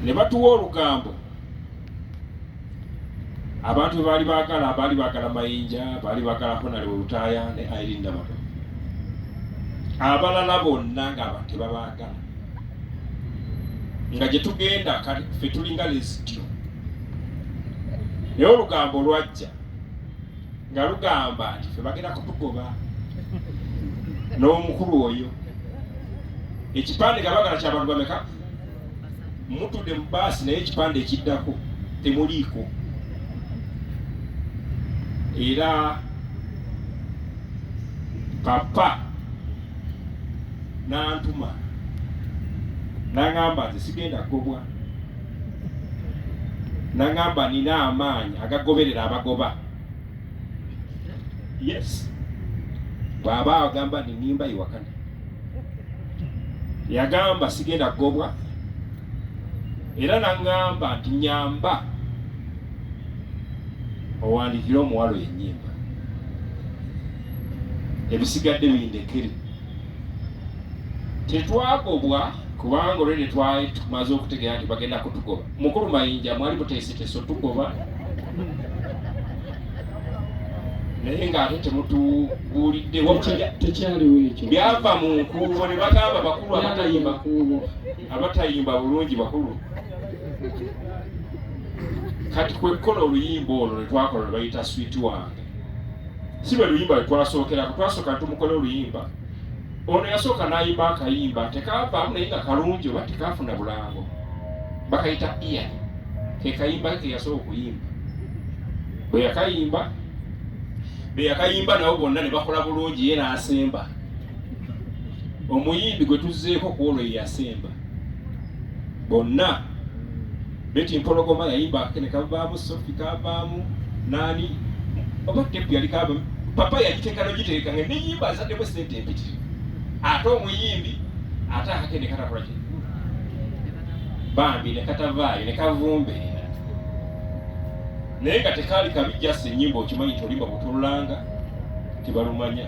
ne batuwa olugambo abantu bwe baali baagala baali baagala mayinja baali baagala honale olutaaya ne airin nabato abalala bonna nga tebabaagala nga gye tugenda fe tulinga lesityo naye olugambo lwajja nga lugamba nti fe bagenda kutugoba n'omukulu oyo ekipande nga bagala kyabantu bameka mutudde mu baasi naye ekipande ekiddako temuliiko era papa nantuma nangamba nze sigenda kugobwa nangamba nina amaanyi agagoberera abagoba yes bwaba agamba nti nimba iwakana yagamba sigenda kugobwa era nangamba nti nyamba owandikire omuwalo yenyimba ebisigadde bindekere tetwagobwa kubanga olwene twali tumaze okutegeera nti bagenda kutugoba Mukulu Mayinja mwali muteeseteese otugoba naye ng'ate temutubuulidde tekyaliwo ekyo byava mu nkuubo ne bagamba bakulu abatayimba kuubo abatayimba bulungi bakulu kati kwekkola oluyimba olwo lwe twakola lwe bayita switi wange si lwe luyimba lwe twasookerako twasooka tumukole oluyimba ono yasooka n'ayimba akayimba tekaavaamu naye nga kalungi oba tekaafuna bulango bakayita iya ke kayimba ke yasooka okuyimba bwe yakayimba be yakayimba nabo bonna ne bakola bulungi ye n'asemba omuyimbi gwe tuzzeeko ku olwo ye yasemba bonna Betty Mpologoma yayimba akene kavaamu Sophie kavaamu nani oba tepu yali kavaamu papa yagiteeka nogiteeka nga neyimba azaddemu esente empitiri ate omuyimbi ate akakene katakola ki bambi nekatavaayo nekavumbe naye nga tekaali kabi jasi enyimba okimanyi nti olimba butululanga tibalumanya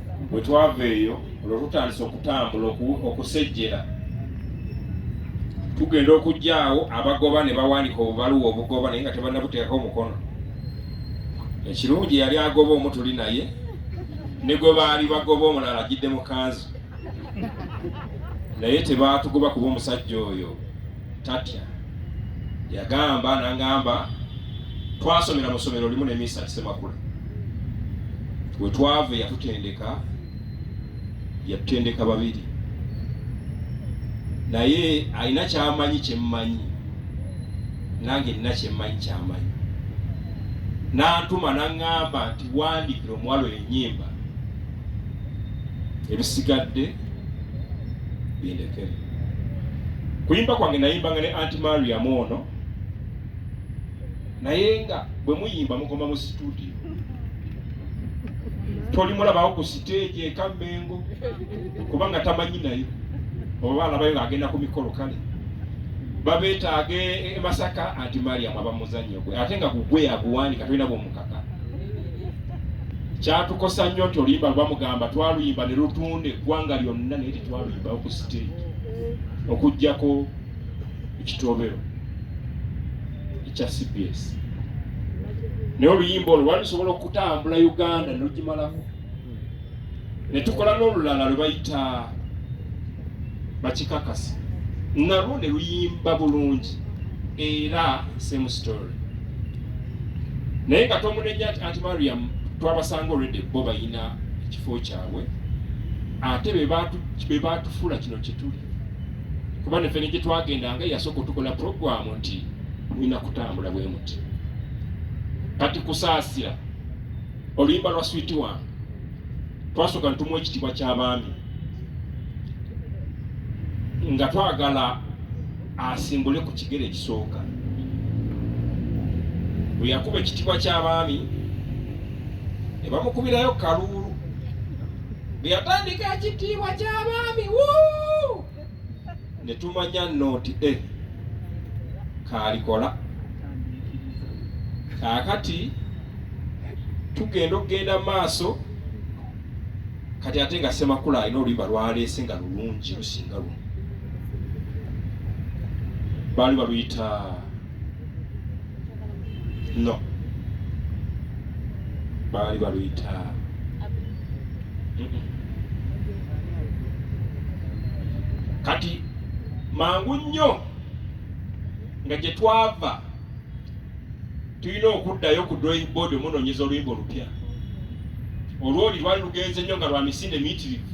bwe twava eyo olwo tutandise okutambula okusejjera tugenda okujjaawo abagoba ne bawandika obubaluwa obugoba naye nga tebanabuteekako omukono ekirungi yali agoba omu tuli naye ne gwe baali bagoba omulala ajjidde mu kanzu naye tebaatugoba kuba omusajja oyo tatya yagamba nangamba twasomera mu ssomero limu ne misa kisemakula we twava yatutendeka yatutendeka babiri naye alina kyamanyi kyemmanyi nange nina kyemmanyi kyamanyi nantuma nangamba nti wandikira omuwalo enyimba ebisigadde bindekere kuyimba kwange nayimbanga ne anti mariam ono naye nga bwe muyimba mukoma mu situdio tolimulabawo ku siteegi ekammengo kubanga tamanyi nayo oba alabayo ng'agenda ku mikolo kale babeetaaga emasaka anti mariam abamuzannya gwe ate nga gugwe yaguwandika tolina bwomukaka kyatukosa nnyo nti oluyimba lwamugamba twaluyimba ne lutunda eggwanga lyonna naye tetwaluyimbawo ku siteegi okugjako ekitobero ekya cbs naye oluyimba olwo lwali lusobola okutambula uganda nelugimalako ne tukola n'olulala lwe bayita bakikakasa nalwo ne luyimba bulungi era same story naye nga tomunenya nti anti mariam twabasanga olwedde bo bayina ekifo kyabwe ate be batufuula kino kyetuli kuba nefe ne gyetwagendanga yasooka otukola puroguramu nti mulina kutambula bwe muti kati kusaasira oluyimba lwa switi wange twasooka ntumu ekitiibwa ky'abaami nga twagala asimbule ku kigere ekisooka bwe yakuba ekitiibwa ky'abaami ne bamukubirayo kaluulu bwe yatandika ekitiibwa ky'abaami wuu ne tumanya nno nti e eh, kaalikola kaakati tugenda okugenda maaso kati ate nga semakula alina oluyimba lwaleese nga lulungi lusinga luno baali baluyita no baali baluyita kati mangu nnyo nga gye twava tulina okuddayo ku drawing board omunonyeza oluyimba olupya olwoli lwali lugenze nnyo nga lwa misinde miyitirivu